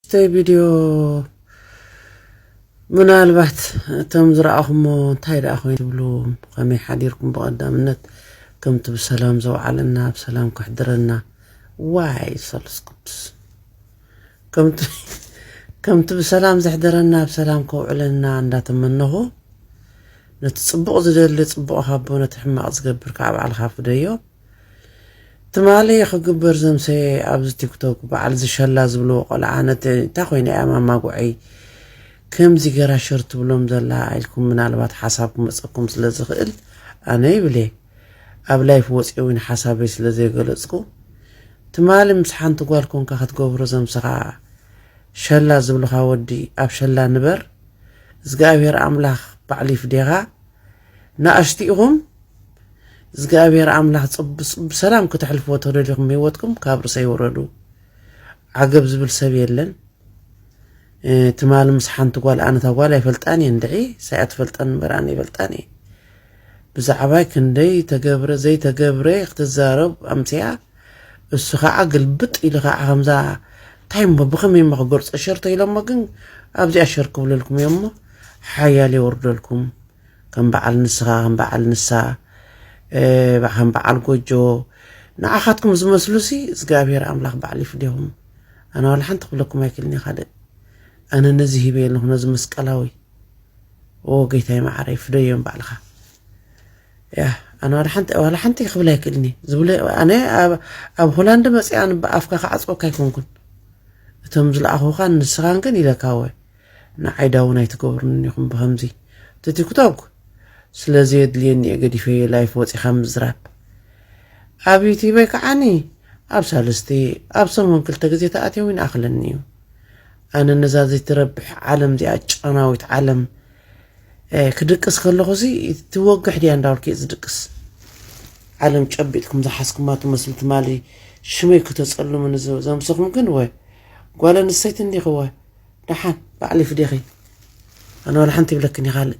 ኣርስተይ ቪድዮ ምናልባት እቶም ዝረኣኹሞ እንታይ ደኣ ኮይኑ ትብሉ ከመይ ሓዲርኩም ብቐዳምነት ከምቲ ብሰላም ዘውዓለና ብሰላም ከሕድረና ዋይ ሰሉስ ቅዱስ ከምቲ ከምቲ ብሰላም ዘሕደረና ብሰላም ከውዕለና እንዳተመነኹ ነቲ ጽቡቕ ዝደሊ ጽቡቕ ሃቦ ነቲ ሕማቕ ዝገብር ከዓ ባዕልኻ ፍደዮ ትማሊ ክግበር ዘምሰየ ኣብዚ ቲክቶክ በዓል ዝሸላ ዝብልዎ ቆልዓ ነቲ እንታይ ኮይና እያ ማማ ጉዐይ ከምዚ ገራ ሸር ትብሎም ዘላ ኢልኩም ምናልባት ሓሳብ ክመፀኩም ስለ ዝኽእል ኣነ ይብሌ ኣብ ላይፍ ወፅየ እውን ሓሳበይ ስለ ዘይገለፅኩ ትማሊ ምስ ሓንቲ ጓል ኮንካ ክትገብሮ ዘምሰኻ ሸላ ዝብልኻ ወዲ ኣብ ሸላ ንበር እዝግኣብሄር ኣምላኽ ባዕሉ ይፍዴኻ ናኣሽቲ ኢኹም እዝግኣብሄር ኣምላኽ ጽብ ብሰላም ክተሕልፍዎ ተደሊኹም ህይወትኩም ካብ ርእሰይ ውረዱ ዓገብ ዝብል ሰብ የለን ትማሊ ምስ ሓንቲ ጓል ኣነ እታ ጓል ኣይፈልጣን እየ እንድዒ ሳያ ትፈልጠን እምበር ኣነ ይፈልጣን እየ ብዛዕባይ ክንደይ ተገብረ ዘይተገብረ ክትዛረብ ኣምስያ እሱ ኸዓ ግልብጥ ኢሉ ኸዓ ከምዛ እንታይ እሞ ብኸመይ እሞ ክገልፆ ሸር ተይሎሞ ግን ኣብዚኣ ሸር ክብለልኩም እዮም እሞ ሓያል የወርደልኩም ከም በዓል ንስኻ ከም በዓል ንሳ ከም በዓል ጎጆ ንዓኻትኩም ዝመስሉ ሲ እግዚኣብሔር ኣምላኽ በዓል ይፍደኹም ኣነ ዋላ ሓንቲ ክብለኩም ኣይክልን እየ ካልእ ኣነ ነዚ ሂበ የለኹ ነዚ መስቀላዊ ኦ ጌታይ መዓረይ ፍደዮም ባዕልኻ ያህ ኣነ ዋላ ሓንቲ ዋላ ሓንቲ ክብል ኣይክእልን እየ ዝብለ ኣነ ኣብ ሆላንድ መፅኣ ኣፍካ ክዓፅወካ ኣይኮንኩን እቶም ዝለኣኹኻ ንስኻን ግን ኢለካ ወ ንዓይዳ እውን ኣይትገብሩን ኢኹም ብከምዚ እቲ ቲክቶክ ስለ ዘየድልየኒ እየ ገዲፈዮ ላይፍ ወፂኻ ምዝራብ ኣብ ዩቲበይ ከዓኒ ኣብ ሳልስቲ ኣብ ሰሙን ክልተ ግዜ ተኣትዮ ይንኣኽለኒ እዩ ኣነ ነዛ ዘይትረብሕ ዓለም እዚኣ ጨናዊት ዓለም ክድቅስ ከለኹ ሲ ትወግሕ ድያ እንዳበልኩ ዝድቅስ ዓለም ጨቢጥኩም ዝሓዝኩማ ትመስሉ ትማሊ ሽመይ ክተጸልሙኒ ዘምሰኹም ግን ወ ጓል ኣንስተይቲ እንዲኺ ወ ደሓን ባዕሊ ፍዴኺ ኣነ ዋላ ሓንቲ ይብለክን ይኻልእ